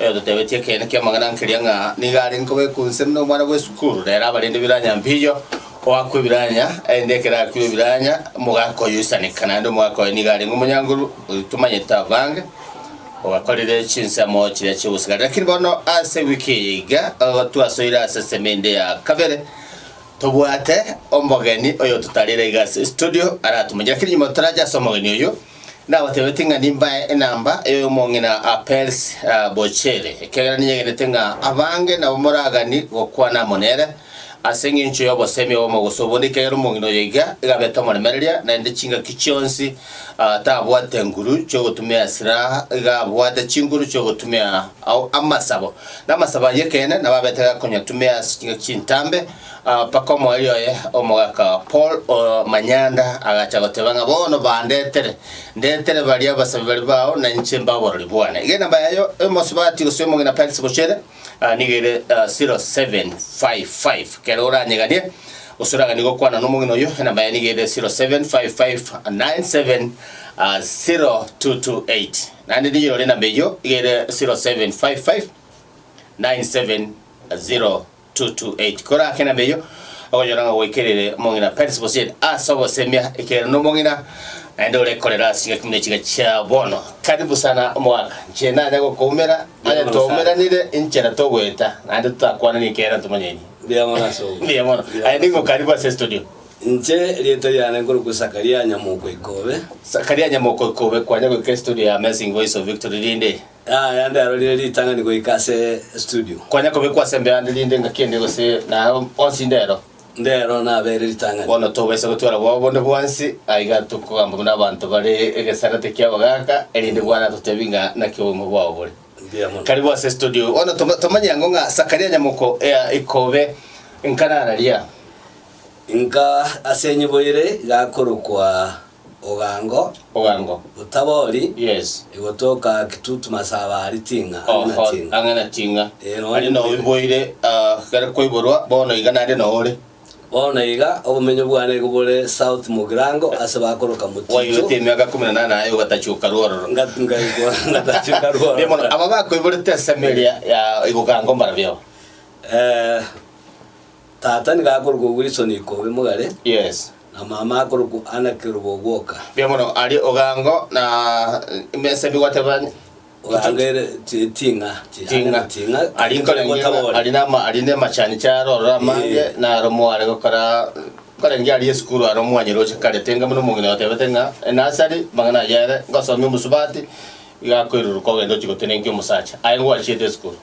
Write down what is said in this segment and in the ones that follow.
Oyototebetie ekeene ki'amang'ana nkeria ng'a nigo arenge koba ekunse buna omwana bw'esukuru, nere aba rende biranya mbicho, oakwa ebiranya, erinde ekero akwire ebiranya, omogaka oye oisaneka, naende omogaka oye nigo arenge omonyankoru, oyio tomanyete abange, obakorire chinsemo chiria chi'obosigari. Lakini bono ase ewiki eye iga, ogo twasoire ase ensemo ende ya kabere, tobwate omogeni oyototarire iga ase estudio aratomanye. Lakini nyuma torache ase omogeni oyio, Nabateebete ng'a nimbae enamba ey'omong'ina Apelles Boccheri, ekiagera ninyegenete ng'a abange nabo moragani gokwana amo nere, ase engencho y'obosemi obw'omogoso obonde, ekiagera omong'ina oyo iga igabete omoremereria, naende chingaki chionsi tabwate nguru chi'ogotumia esiraha, iga abwate chinguru chi'ogotumia ao amasabo, na amasabo ayio ekeene nabo abete gakonyatumia ase chingaki chintambe, Mpaka omoerio oye omogaka Paul o Manyanda agacha goteba ng'a bono bandetere, ndetere baria abasabi baria bao na inche mbe aborori bwane. Egena mba yayo emosubati gose omong'ina Perisi Bochere, aa, nigo ere 0755. Ekero oranyeganie gose oraganie gokwana nomong'ina oyio, enamba yaye nigo ere 0755970228. Naende niyirore enamba eyio, iga ere 0755970228. 2:28 Kora ake nabeyo, ogonyora ng'a gwaikire omong'ina Parisiboseti ase ogosemia ekiagera nomong'ina, naende ore korera ase chingaki buna chiga chia bono. Karibu sana omogaka, inche nanya gokoumera, onye twaumeranire inchera togoeta, naende totakwanani ekiagera ntomonyainie. Mbuya mono ase obo. Mbuya mono. Aye nigo karibu ase estudio. Inche erieta riane nkorokwa Sakaria Nyamoko Ikobe. Sakaria Nyamoko Ikobe, kwanya goika estudio ya Amazing Voice of Victory rinde? Yaya nderorire ritang'ani goika ase estudio. Konya kobe kwase mbe ande rinde ngaki ende gose naye onsi inde ero. Ndero nabeire ritang'ani. Bono tobaisa gotwara bwao bonde bwansi, aye iga tokogamba buna abanto bare egesarate ki'abagaka, erinde bwana atotebie ng'a naki oboimo bwao bore. Mbuya mono. Karibu ase estudio. Bono toma- tomanye ang'o ng'a Sakaria nyamoko ea ikobe nka nararia? Inka ase enyibo ere iga akorokwa Ogango. Ogango. Otabori. Yes. Egotoka kitutu masaba ari ting'a ang'e na ting'a. Ang'e na ting'a. Ee nonye. Ari noe mboire kere koiborwa bono iga nande noore. Bono iga obomenyo bwane igo bore south mogirango ase bakoroka moticho. Waigete emiaka ikomi na nane aye ogatachuka rwororo. Ngaigwa ngatachuka rwororo. Mbuya mono aba bakoiborete ensemo eria ya Igogango mbarabio? Ee. Tata nigo akorokwa Wilson Ikobe Mogare, Yes. na mama akorokwa Anna Kerubo Ogwoka. Mbuya mono. Aria ogango na mesa bi gwateba Ogango ere ti- ting'a, ti- ting'a. ting'a, Ari nkore ari ng'ina, gotabora. ari nama ari ne machani charo orora amange Eh. na aro mware gokora kore ngi ari esukuru aro mwanyire oche kare tenga muno omong'ina otebete ng'a enasari mang'ana ayere ngosomia omusubati igakoiruru kogenda ochi gotenenkia omosacha aye ngwachiete esukuru.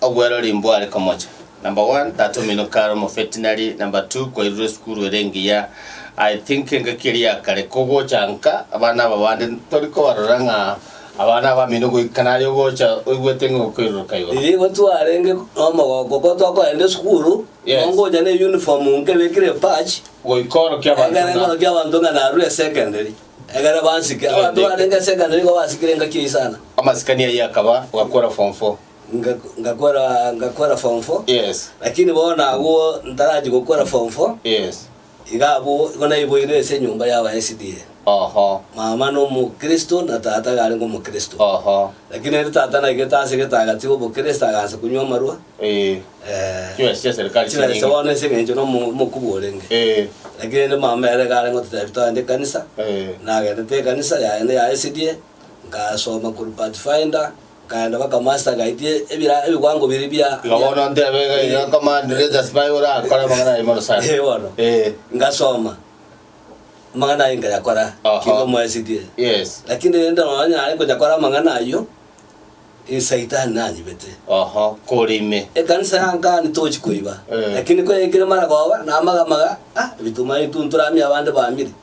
Obwerori imbware komocha. Number one, tata omino kare omovetinary, number two, kwairure esukuru ere engiya. I think engaki eria ya kare kogocha nka abana aba bande tori kobarora ng'a abana abamino goika naye ogocha oigwete ng'a okoiruruka igoro. Riria igo twarenge nomogooko ko tokoenda esukuru, Yes. nongocha ne uniform nkebekire patch, Goika orokia abanto egere ng'a ng'orokia abanto ng'a narure esecondary, egere bansike. Abanto barenge esecondary nigo basikire engaki eyio sana. amasikani ayio akaba, ogakora form four. nga- ngakora ngakora form four, Yes. lakini bono agwo ntarachi gokora form four, Yes. iga abwo igo naiboirwe ase enyomba y'aba SDA. Oho. Mama nomokristo na tata garenge omokristo. Oho. Lakini ere tata naigete ase egetagati obokristo agansa konywa amarwa. Eh. Eh, Chibesa chia serikali chibesa chinyingi. bono ase eng'encho na omo- omokuba orenge. Eh. Lakini ere mama ere garenge ototebia twagende ekanisa, Eh. nagendete ekanisa yaye na ya SDA. Ngasoma korwa Pathfinder, nkaenda mpaka Master ngaitia ebira ebiwango biria bia Iga bono ntebe iga iga command letters bai orakore amang'ana aye mono sana. Eh, bono. Eh. Ngasoma. Amang'ana aye nkayakora Aha. kibe mwaesirie. Yes. Lakini rende nonya nare nkonyakora amang'ana ayio, esaitani nanyibete. Aha, kore ime. Ekanisa yankani tochi koiba. Eh. Lakini koyaikire mara koba namagamaga, ah, ebituma ebi tu ntoramie abande bamire.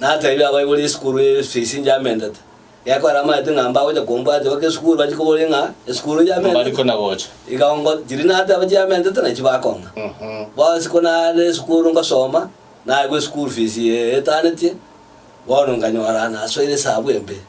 Nateebia abaibori esukuru eye esusia ise njamenete. Gekogera amaete ng'a mbagocha kombwatio goka esukuru bachie koboria ng'a esukuru njamenete. Mbari kona gocha. Iga ongo, chiria nateba chiamenete nachio bakong'a. Bonsi ko nare esukuru ngosoma, naegwa esukuru fees eye etanetie, bono nkanyora nasoire esabu embe.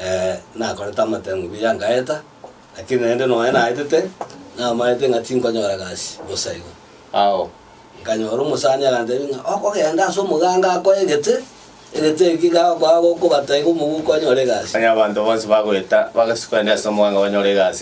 Ee, nakorete amatengu buya ngaeta, lakini naende nonya naetete, namaete ng'a tinkonyora gasi bosa igo. Ao nkanyora omosani agantebia ng'a okogenda ase omoganga akoe egete, egete eki iga agokoa agokobata iga omoguko onyore egasi. Onye abanto bonsi bagoeta, bagasukwa ende ase omoganga banyore egasi.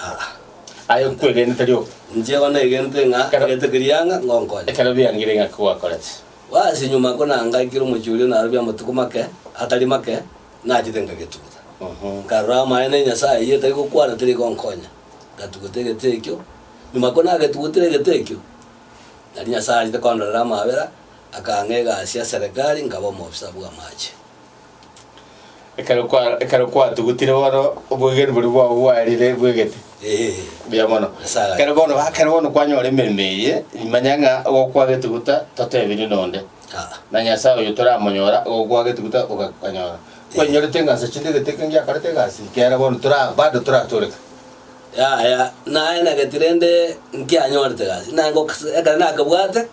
Aa, Aye nkwegene tari obo. Inche igo naigentwe ng'a Ekero- egete keria ang'e ngonkonye. ekero biangire ng'aki gwakorete. Basi nyuma oko nangaikire omochie oria narobia amatuko make atari make, nachete nkagetugutha. Mhm. Nkarora amaene ya Nyasae eyio etari gokwana teri egonkonya, ngatugutha egete ekio. Nyuma ko nagetugutire egete ekio, nari Nyasae achete kondorera amabera, akang'a egasi ya serekari, nkaba omofisa bw'amache. Ekero kwa ekero kwatugutire bono obwegenwa boria bwao bwarire bwegete. Eh, Buya mono. Ase agachia. Ekero bono ekero bono kwanyora emeremo eye, manya ng'a ogokwa getuguta totebirie nonde. ah, Na Nyasaye oyo toramonyora ogokwa getuguta ogakanyora. Kwenyorete ng'a ase chinde gete ekero giakorete egasi ekiagera bono tora bado toratoreka. yaya, naye nagete rende nkianyorete egasi, naye ngoks ekero nakebwate,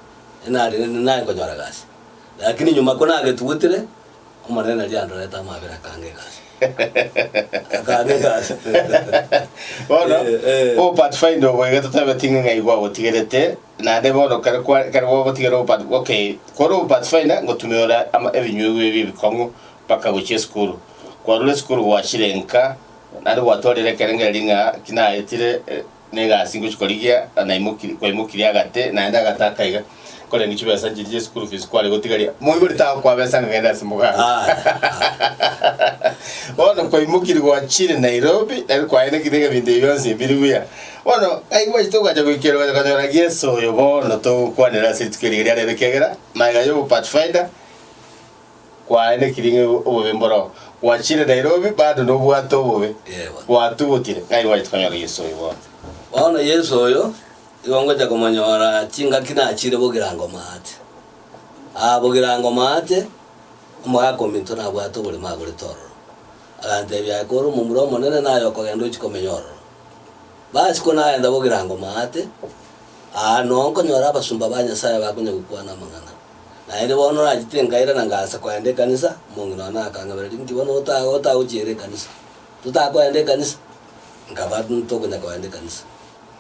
nare naye nkonyora egasi. Lakini nyuma konagetugutire, Omonene riria andorete amabera akanga egasi. Akanga egasi. Bono, Eh, eh. obopathfinder obo iga totabeti ng'a ng'ai gwagotigerete, naende bono kare kwa- kare gwagotigera obopath- okay, kore obopathfinder ngotumeora ama- ebinyugwa ebi ebikong'u mpaka gochia esukuru. Kwarure esukuru gwachire nka, naende gwatwarire ekerengo eria ng'a ki naetire eh, Negasi ngochia korigia naimoki- kwaimokirie agate, naende agate akaiga, korenge chibesa nchiria chia school fees kware gotigaria. Moigore tagokoa besa ng'a genda ase mogaso. Bono kwaimokirie gwachire Nairobi, nari kwaenekire ebinto ebi bionsi biri buya. Bono ai gwachete ogacha goikera ogacha konyora Yeso oyo bono togokwanera ase rituko eria riarero ekiagera magega y'obo Pathfinder, kwaye nekirie ng'a obobe mboroo. Gwachiire Nairobi bado nobwate obobe. Yebo. Gwatugutire ng'a igo gwachete konyora Yesu oyo bono. Bono Yesu oyo igo ngocha komonyora chingaki nachiire bogirango maate. Aa bogirango maate, omogaka ominto nabwate oborimo agorete ororo. Agantebia aye kore omomura omonene naye okogenda ochie komenya ororo. Basi ko nagenda bogirango maate, aa noo nkonyora abasomba ba Nyasaye bakonyagokwana amang'ana. Naende bono nachete nkaira na ngaansa koenda ekanisa, omonge nonya akang'abera ring'iti, bono otago otagochiera ekanisa, totakoenda ekanisa? Nkaba ntokonya koenda ekanisa.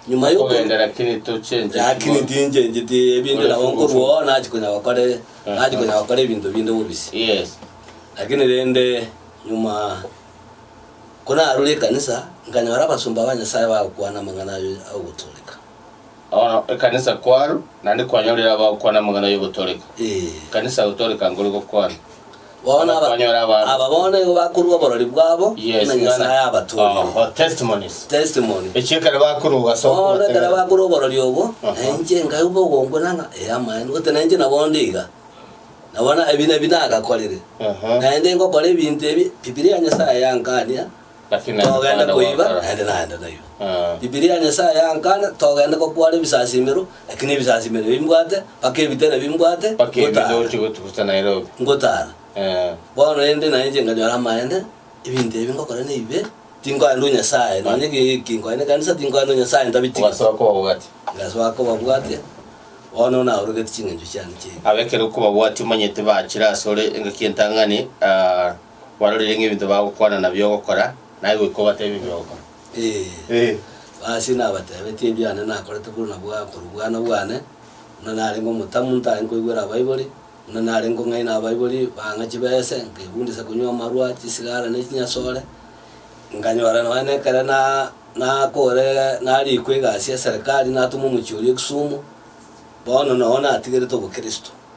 Nyuma yo Okogenda lakini tochencheti Lakini bono. tinchencheti ebinto Ore nabo nkorwa oo fugufugu. nachi konya gokora e- nachi Aha. konya gokora ebinto binde bobisi. Yes. Lakini rende nyuma konarure ekanisa, nkanyora abasomba ba Nyasaye bagokwana amang'ana aye agotooreka. Bono ekanisa kwaro naende kwanyorire abagokwana amang'ana y'ogotooreka. Ekanisa gotooreka nkori gokwana. Bono Bono kwanyora aba abanto. aba bono nigo bakorua oborori bwabo Yes, ng'a Nyasae ng'ana- abatong'ire. Oho, testimonies. Testimony. Echio ekero bakorwa obwase Bono ekero okobatenena. bakorwa oborori obwo, Aha. na inche nkaigwa ogongwe nang'a ee amaene, gose na inche nabo ndiga. Nabo na ebi na ebi nagakorire. Aha. Naende ngokora ebinto ebi, Bibilia ya Nyasae yankania, togende koiba naende naende nayio. Bibilia ya Nyasae yankana togende gokwara ebisasimero, lakini ebisasimero ebio mbwate mpaka ebitera ebio mbwate ngotara. Ngotara. Bono rende na inche nkanyora amaene, ebinto ebi ngokora nebibe, tinkoenda o Nyasae, nonya eki nkoenda ekanisa tinkoenda o Nyasae ntabitiga. Ngasoa kobabwatia, bono naorogetie ching'encho chiane chiaibere. Ekero okobabwatia omanyete bachire asore engaki entang'ani. Barorire ng'a ebinto bagokwana nabio ogokora, naye goika obatebe ebi ogokora. Ee, basi nabatebetie ebiane nakorete korwa nabwo akorwa obwana bwane, buna narenge omotamu ntari nkoigwera abaibori, buna nare nkong'aina abaibori bang'a chibese, nkegundisa konywa amarwa, chisigara, ne chinyasore, nkanyora nonya na ekero na nakore narikwa egasi ya serikali natumwa omochie oria Kisumu, bono nao natigerete obokristo.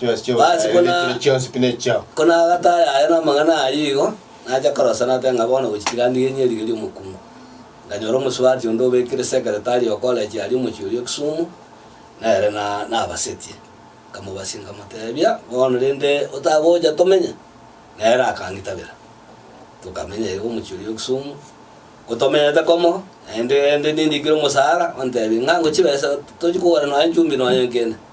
Chionsi chio Basi Obosaya, kona- ebituro chionsi pi nechiao. Kona agataaya aye namang'ana ayio igo, nacha korosa nateba ng'a bono gochi tiga ndigenye riiga ri'omokungu. Nkanyora omosubati onde obekire sekeretari o koleji aria omochie oria o Kisumu, nere na nabasetie. Nkamobasia nkamotebia, bono rende otagocha tomenye? Nere akangitabera. Tokamenya iga omochie oria o Kisumu, ngotomenyete komo, naende rende nindikire omosara, ontebie ng'a ngochibesa tochi kogora nonya chumbi nonya enkende.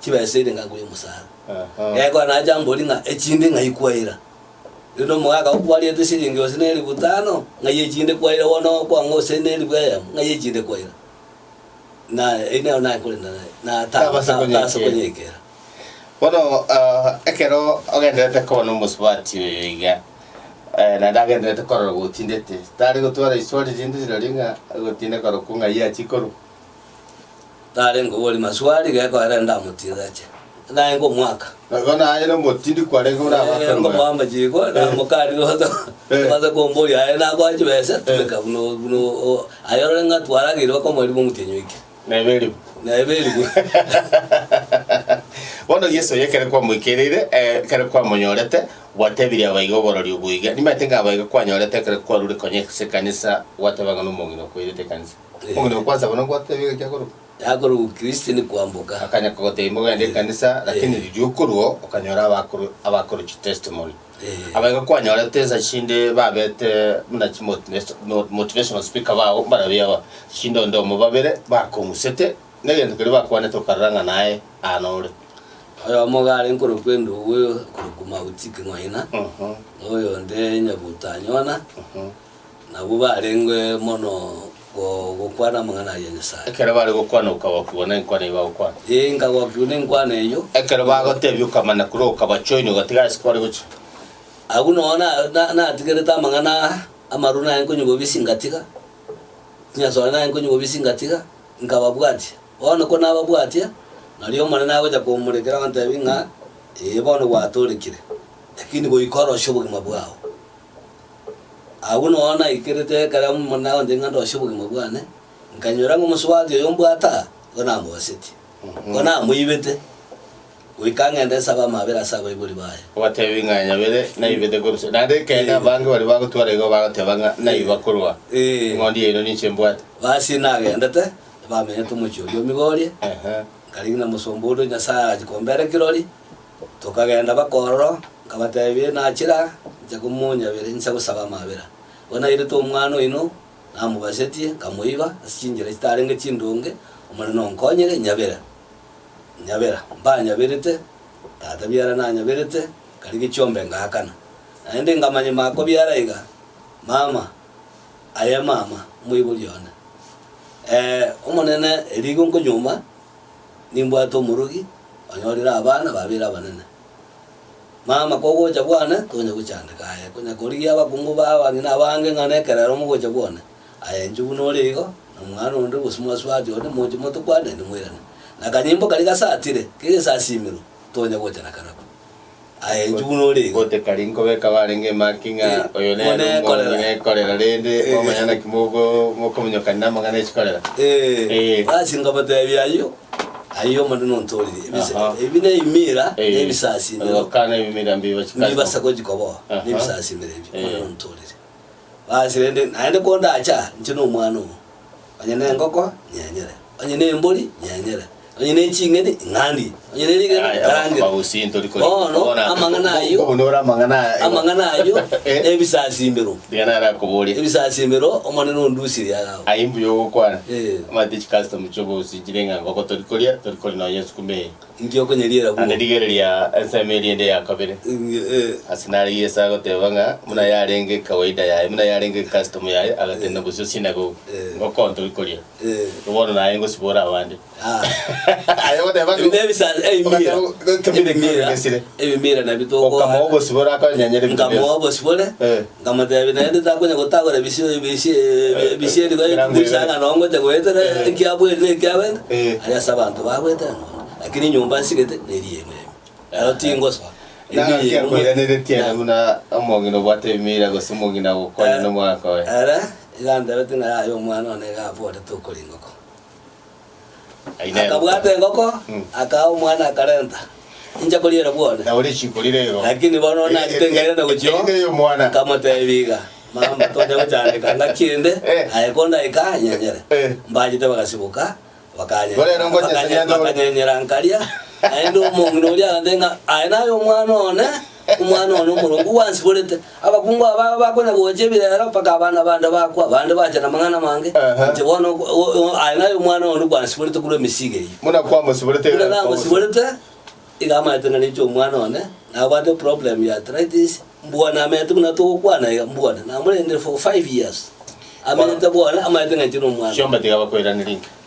chibesa ere ng'akoe omosaara. Ee, kora nache ambori ng'a echinde ng'ai kwaira. Rende omogaka oo kwariete esiringi gose neribu tano, ng'ai echinde kwaira bono okwang'a gose neribu eyemo, ng'ai echinde kwaira. Na eyio nero naye korenda naye, na ta- Tabasa ta- konyekera. tabasa konyekera. Bono ah, ekero ogenderete koba nomosubati oyo iga, eh, naende agenderete korora gotindete, tari gotwara riswali rinde riroria ng'a gotinde korokwa ng'ai achikorwa. tarenge obori maswali gekoera ndamotinda ache naye ngomwaka. Nabo naye nomotindi kwarenge buna Eh, abakoroe. ngomoamba chiiko namokarire oto Eh. obaze komboria aye nakoa chibesa tumeka buna buna o- aye orore ng'a twarageire bakomoribwa omotienyi oikire Nebe eribu. nebe eribu Bono Yeso oye ekero kwamoikereire, eh, ekero kwamonyorete, gwatebirie abaiga oborori obo iga. Nimanyete ng'a abaiga kwanyorete ekero kwarure konya ase ekanisa, gwateba ng'a nomong'ina okoirete ekanisa. Omonyene okwansa bono gwateba iga kiakorokwa. Yakorokwa Kristo ni kwamboka. Akanya kogoteba imbogo yaende ekanisa, lakini riria okorua okanyora abakoro abakoro chi testimony. Aba iga kwanyorete ensa chinde babete buna chi motivational speaker bao mbarabio aba chinde onde omo babere bakong'usete negento keria bakwanete okarora ng'a naye aa nore. Oyomo iga are nkorokwa Endugu korokwa Mauti King'oina, na oyonde Nyabuto Anyona. Nabwo barenge mono gokwana amang'ana ayia Nyasae. Ekero bare gokwana okagokigwa nenkwana eyio bagokwana. Ee, nkagokigwa nenkwana eyio. Ekero bagotebia okamanya korwa okabachoinia ogatiga ase kware gochia. Agwo nonya natigerete amang'ana aa, amaroro naye nkonyi bobisi ngatiga, chinyasore naye nkonyi bobisi ngatiga, nkababwatia. Bono ko nababwatia, nario Omonene agochia komorekera ontebie ng'a, Ee, bono gwatoorekire, lakini goika orosio obogima bwao. Agwo noa naikerete ekero Omonene agontebia ng'a ndosie obogima bwane, nkanyora ng'a omosubati oyo mbwate aa, nigo namogasetie. Nigo namoibete, goika ng'ende nsabe amabera ase abaibori baye. Obatebie ng'a nyabere naibete korwa. Naende ekeene abange baria bagotwara igo bagoteba ng'a naiba korwa Ee. eng'ondi yaino ninche mbwate. Basi nagendete, bamenyete omochie oria o Migori, Ehe. nkarigia na omosomba oria o Nyasae agachia kombera ekirori, Tokagenda bakororo, nkabatebia, Nachira inche komonyabera inse gosaba amabera. Bono nairete omwana oino, namobasetie, nkamoiba, ase chinchera chitarenge chindonge, Omonene onkonyere, inyabera. Inyabera, mbanyaberete, tata biara nanyaberete, nkarigia chiombe ngaakana. Naende nkamanya mako biara iga, mama, aye mama, omoibori one. Ee, Omonene, erigo nkonyuoma, Nimbwate omorogi onyorire abana babere abanene. Mama, kogocha bwane tonya gochandeka aye, konya korigia abakungu ba abang'ina abange ng'a nekerero mogocha bwane. Aye inche buna ore igo, na omwana onde gose mwasubati onde moche moto kwane, naende moirane. Na akanyimbo karia gasatire, kegesasimirwe, tonya gocha na karako. Aye inchugu nore iga. Gotekari nkobeka barenge emaki ng'a oyo nere One omonyi ekorera. nekorera, rende Eh. mwamanya naki mogo mokominyokania namang'ana echikorera? Eh, Eh. ase nkabatebia ayio, ayio omonene ontorire. Ebise- Aha. Ebi ne imira, Eh, ne ebisasimero, ogokana ebimira mbibo chikasi. nibasa kogikoboa, Aha. ne ebisasimero ebi, Eh. omonene ontorire. Basi rende, naende kondacha, inche nomwana obo, Onye nengoko, nyenyere. Onye nembori, nyenyere. Onye neching'eni, ing'andie. Onye nerigena, Aya, ngarange. bagusii ntori kori. Bono Bona- amang'ana ayio, Bono ore amang'ana aya. amang'ana ayio Eh. nebisasimbero. Riga narakoboria. Ebisasimbero Omonene ondusirie agao. Aye mbuya ogokwana. Eh. Omanyete chicustom chiobogusi chire ng'a ngoko tori koria, tori kori nonya esukuma eye. Inki okonyeriera Naende bwo? rigereria ensemo eria ende ya kabere. Inge, eh. Ase nare Yeso agoteba ng'a buna yarenge kawaida yaye, buna yarenge custom yaye, agatenda bosio sinagogi, Eh. ngokonto ri koria. Eh. Igo bono naye ngosibora abande. Ah. Aye ogoteba ng'a- Ebinto ebisa- ebimira. Ogoteba, Ebimira. Ebimira nabio tokora. Okamao obosibore akonyanyere ebinto bionsi. Nkamoa obosibore. Eh. Nkamoteebia, Naende takonya gotagora ebisio ebisieri goekumisa ng'a nongocha goetera ekia bweri na ekia bende, aria ase abanto bagoetera nonya, lakini enyomba nsigete neri yaino ime. Naro tingosoa. Naki akoiraneretie ere buna omong'ina obwate ebiira gose omong'ina gokonya nomwana oye? Ere iga antebetie ng'a yaya omwana one iga aborete okoringa okong'u. Aye nero. Akabwata engoko, akaa omwana akarenta, Inche koriera bwone. Na oria chikorire igo. Lakini bono nachete nkaira na gochia oo, Erinde oyo omwana. nkamotebia iga, Mama, tocha gochandeka ng'aki ende, Eh. aye kondaika anyenyere. Eh. Mbachete bagasiboka, bakanye- Bono ero ngocha ase bakanye- nyanchore. bakanyenyera nkaria, naende omong'ina oria agantebia ng'a, Aye naye omwana one. Omwana one omoronge gwansiborete. Abakungu aba bakona gocha ebirero mpaka abana bande bakwa, bande bacha namang'ana amange, inche bono aye naye omwana one gwansiborete korwa emesiiga eyio. Buna kwamosiborete Buna namosiborete, iga amaete narechwe omwana one, nabwate problem ya arthritis, mbwa namenyete buna togokwana iga, mbwa namorendire for five years. Amenyete bwane, amaete ng'anchire omwana. Chiomba tiga bakoiraneria inki?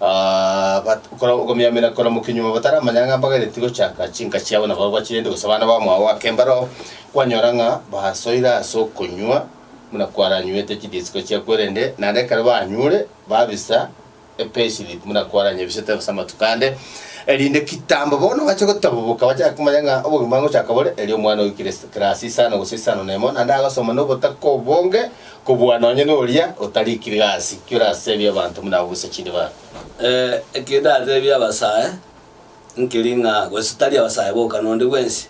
But okora okomiamera koramokia nyuma bataramanya ng'a mbagaretie gochaka chinka chiabo nabo bachirente gose abana ba mwao ake mbaroo, kwanyora ng'a basoire ase okonywa buna kwaranywete chidisiko chia kwerende, naende ekero banyure babisa epayslip buna kwaranyebisete gose amatuko ande, erinde kitambo bono bache gotabuboka bachake komanya ng'a obogima ngochaka bore, erio omwana oikire ase class isano gose isano na emo naende agosoma na obotaka obonge Kobua nonye noria otarikire gasi, ki orateebie abanto buna abo gose chinde babo? Eki ndateebie abasae nkeri ng'a gose tari abasae boka nonde bwensi.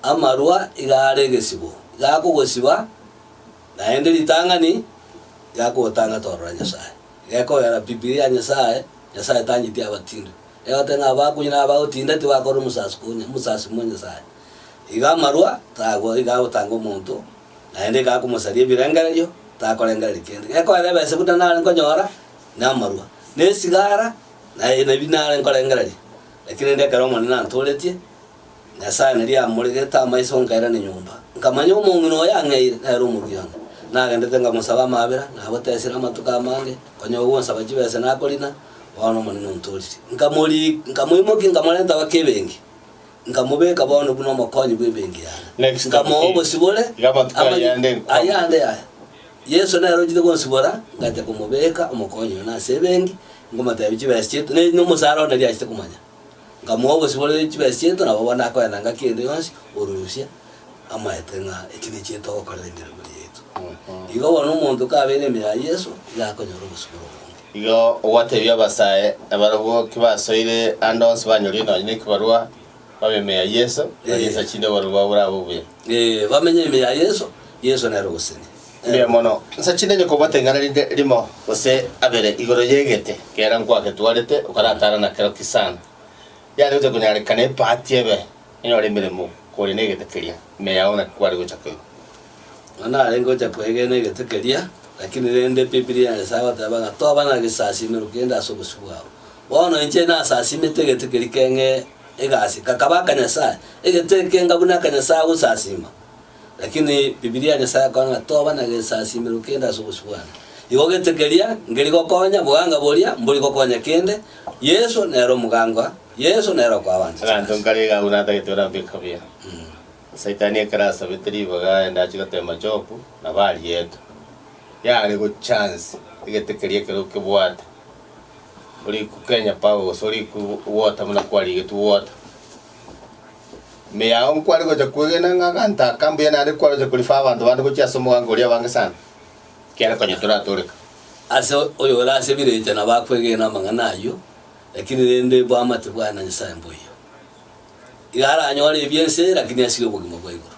Amarwa iga are egesibo, iga akogosiba, naende ritang'ani iga akogotanga torora Nyasae. Iga ekoera Bibilia ya Nyasae, Nyasae tanyeti abatindi. Egote ng'a abakunywa na abagotinda tibakorora omosaasi konya, omosaasi bwa Nyasae. Iga amarwa tagwo iga agotanga omonto naende ekaya komosaria ebirengererio, takorengereria kende. Gekoera ebese buna nare nkonyora, na amarua, na esigara, na aye nabi nare nkorengereria. Lakini rende ekero Omonene antooretie, Nyasae naria amoregete amaiso nkairana enyomba, nkamanya omong'ina oyo ang'eire nere omoruya one. Nagendete nkamosaba amabera, nagotesire amatuko amange, konya ogonsaba chibesa nakorina, bono Omonene ontoorire. Nkamori nkamoimokia nkamorenta goka ebenki. Nkamobeka bono buna omokonyi bw'ebenki yane. Next time Nkamoa key. obosibore Iga amatuko aya amange- ande nkwama. ayio ande yaya. Yeso nere ochete gonsibora, ngacha komobeka omokonyi one ase ebenki, nkomotebia chibesa chiaito, ne- nomosara one neriachete komanya. Nkamoa obosibore chibesa chiaito, nabo bono akoenda ngaki ende yonsi, orusia. amaete ng'a eki nekio etogokorera emeremo yaito. Igo bono omonto kabeire ime ya Yeso, igo akonyora obosibore obonge. Igo ogwateebia abasae na barabwo ki basoire ande onsi banyorie nonya nekibarua, babe ime ya Yeso, barie Ee. esachinde oborori bwabo borabe obuya. Ee, bamenye ime ya Yeso, Yeso nere ogosenia. Mbuya mono. Nsachinde onye kobwate ing'ana rinde rimo gose abere igoro y'egete kera nkwagetwarete, okaratara na kero ki sana, yare gocha konyarekana epaati ebe. Inyora emeremo kore negete keria, ime yao naki kware gocha koigwa? Nonya narenge gocha kwegena egete keria, lakini rende Bibilia ya Nyasae egoteba ng'a toba na gesasiimero kende ase obosio bwao. Bono inche nasasiimete egete keria keng'e egasi, kakaba aka Nyasae, egete ekenga buna aka Nyasae gosasiima. Lakini Bibilia ya Nyasae ekora ng'a toba na gesasiimero kende ase obosio bwane. Igo gete keria, ngeri gokonya, boganga boria, mbori gokonya kende, Yeso nere omogangwa. Yeso nere okwabanchete Abanto nase. nkaraiga agwo natagete orambeke kabuya. Saitani ekero asabete ribaga aende achie goteema Jobu, nabo ariete. Yare gochance egete keria ekero okebwate, ori kukenya power gose ori ku- water buna kwarigetwe water. Ime yao nkware gocha kwegena ng'a aganto aka mbuya naende kwaroche ko refer abanto bande gochia ase omoganga oria abange sana, ekiagera konya toratooreka. Ase oyo ore ase village nabo akwegena amang'ana ayio. Lakini rende bwamate bwaye na Nyasaye mboiyo. Iga aranyore ebi ense, lakini asire obogima bwa igoro.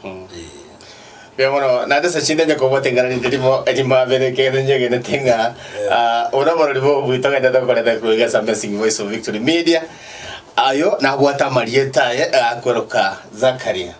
Ee. Mbuya mono. Naende ase chinde onye kobwate eng'arari ndirimo erimo abere ekegende nyegenete ng'a ah, obo noborori bobui togende tokorete koiga ase Amazing Voice of Victory Media. Ayo nabwate amarieta aye agakweroka Zakaria.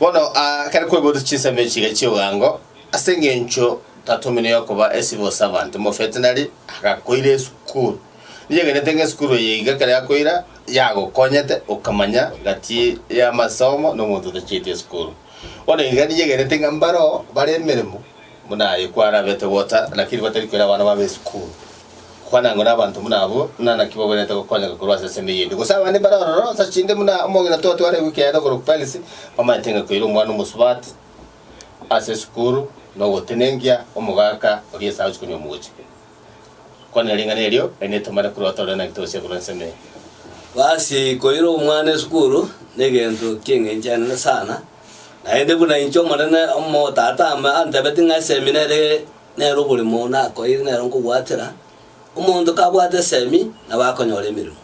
Bono aa, kare kwebotu chinsemo echi iga chi'oboango, ase engencho tatomino y'okoba esibo ase abanto, omovetenari agakoira esukuru. Ninyegenete ng'a esukuru eye iga ekero yakoira yagokonyete okamanya gati y'amasomo na omonto otachieti esukuru. Bono iga ninyegenete ng'a mbaro bare emeremo buna aye kwarabete gota, lakini batari koira abana babo esukuru. Kwana ngore abanto buna abwo ng'a naki bawenerete gokonyeka korwa ase esende y'ebibe. Gose abande mbare ororo onsi ase chinde buna omong'ina twatwareigwe ekeene okorwa Perisi, omanyete ng'a koira omwana omosubati ase esukuru na ogotenengia omogaka oria ase agochia konywa mogochi. Kwanera ring'ana erio, naende etomare korwa otore naki tosie korwa ensemo eye. Gose koira omwana esukuru negento ki'eng'enchanire sana, naende buna inche Omonene Omotata ame antebeti ng'a eseminari Nere oborimo oo nakoeire nero nkobwatera, Omonto kabwate esegi nabo akonyora emeremo.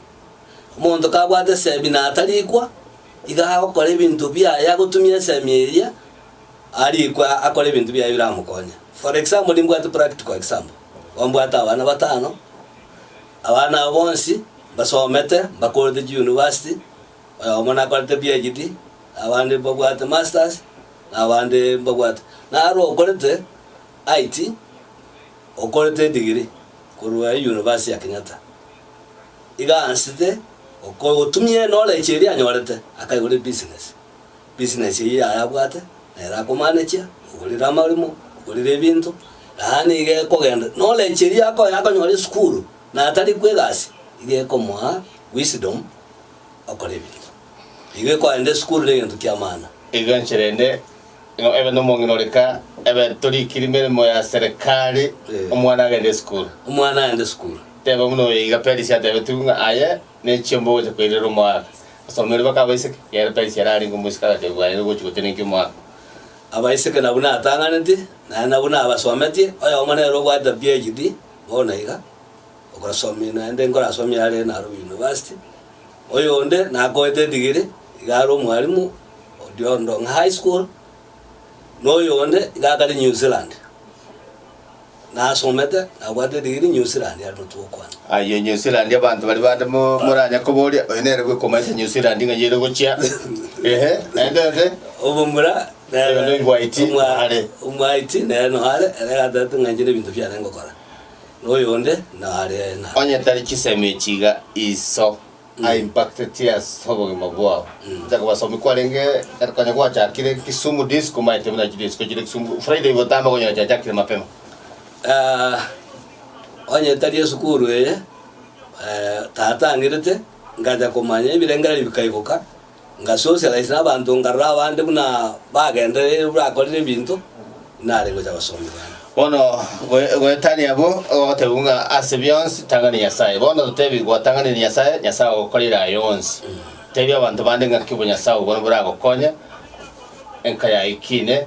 Omonto kabwate esegi na atarikwa, iga agokora ebinto biaye agotumia esegi eria, arikwe akore ebinto biaye biramokonye. For example, nimbwate practical example, igo mbwate abana batano, abana aba bonsi mbasomete, mbakorete chiuniversity, Oyomo nakorete PHD, na abande mbabwate Masters, na abande mbabwate. Naro okorete IT, okorete edigiri korwa University ya Kenyatta. Iga aansete okotumia eknowledge eria anyorete, akaigora ebusiness. Business eyio yaye abwate, nere akomanage-chia, ogorire amarimo, ogorire ebinto, yaani iga ekogenda. Knowledge eria akoyakonyora esukuru, natari kwa egasi, iga ekomoa wisdom. okore ebigiya. Nigo ekorenta esukuru negento kiamana. Igo enchera ende nigo ebe nomong'ina ore ka ebe torikiri meremo ya serekari, omwana agende esukuru. Omwana agende esukuru. Tebe buna oyo iga Perisia atebetigwe ng'a aye ne chiomba ogocha koirera omoaka. Asomeire baka abaiseke, ekiagera Perisia erare ingo omosike agachia koganera ogochi gotenenkia omoaka. Abaiseke na buna atang'anetie, naende na buna abasometie, oyomo nere obwate PHD, bono iga. Ogosomi naende nkorasomie are naro university. Oyonde nakoete edigiri iga are omwalimu odio Ndong'a High School, na oyonde iga akare New Zealand. Nasomete nabwate edigiri New Zealand aria notwo okwana. Ayio New Zealand abanto baria bande mo- moranya koboria, oyo nere bwe komaete New Zealand ng'a yere gochia. Ehe, naende onde? Omomura Oyo noigwa IT, omwa- are. omwa IT nere no are, ere gatagete ng'a inche nebinto biane ngokora. noyonde nare na. Onye tari chisemi echi iga iso a impacted ase obogima bwao. Inche kobasomi kwarenge konya gwachakire Kisumu disc omaete buna chiri isiko chire Kisumu Friday gotama okonyora chiachakire mapema. Onye tari esukuru eye tataang'erete ngacha komanya ebirengererio bikaiboka. Ngasoosera inse nabanto nkarora abande buna bagendereire bw'akorire ebinto, nare ngocha gosomia bande. Bono goe- goetania abwo ogogotebiwa ng'a ase bionsi tang'ani Nyasae. Bono totebi gwotang'anire Nyasae, Nyasae agokorire aya onsi. Tebia abanto bande ng'aki obonyasae obwo boragokonye enka yaye kiine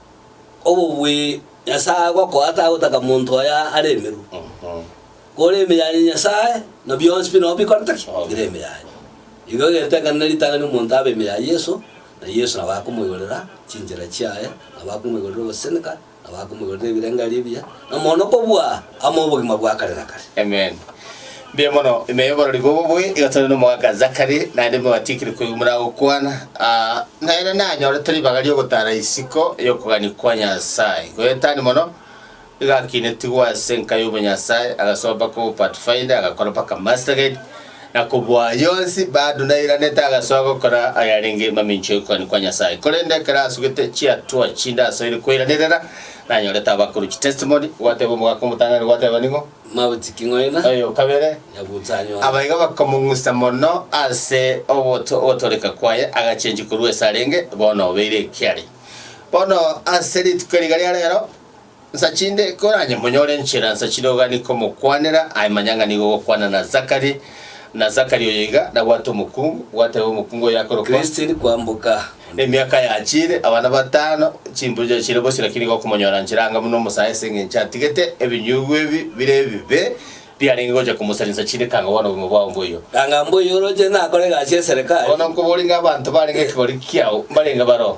Obobui Nyasae agokoa tagotaka monto oye are emeru. Kore emiyaye ya Nyasae, na bionsi pi nabwo bikoreta ki? Bire emiyaye. Igo egetengeranio ritang'ani nomonto abe emiyaye Yeso, na Yeso nabo akomoigorera chinchera chiaye, nabo akomoigorera ogoseseneka, nabo akomoigorera ebirengererio ebiya, na mono kobua. Amo obogima bwa kare na kare. Amen. Mbuya mono, emeyo oborori bobo bobe igotana n'omoaka Zachary, naende nigo mwatiekire koigwa moragokwana. Ah, nere nanyorete ribaga ri'ogotara isiko y'okogania kwa Nyasae. Goetania mono, igakinetigwa ase enka y'obonyasae, agasoa mpaka obopathfinder, agakora mpaka mastercard, na kobua yonsi badunairanete agasoa gokora ayarenge mamincha y'ogokwania kwa Nyasae. Korende ekero asugete chiatua chinde asoire koiranerera, nanyorete abakuru chitestimony, gwateba omogaka omotang'ani, gwateba nigo, Mauti king'oira, oyo o kabere, nyagutsa anyore. Aba igo bakamong'usa mono ase oboto ogotooreka kwaye, agachenchwa korwa ase arenge, bono obeire ekiari. Bono ase rituko riga ria reero, Nsachinde, koranye monyore enchera nsachire ogani komokwanera, aye manya ng'a nigo ogokwana na Zakari, na Zakari oyo iga nabwate omokungu, gwateba omokungu oyo akorokwa. Christine kwamboka. Emiaka yachiire, abana batano, chimburu chiachiire bosio, lakini igo okomonyora nchera anga buna omosae ase engencho atigete ebinyugwa ebi bire ebibe biarenge gocha komosaria nsachinde kanga bwane obogima bwao mboigo. Kanga mboigo oroche nakore egasi y'eserekari. Bono nkoborie ng'a abanto barenge ekegori kiao mbarenge baro?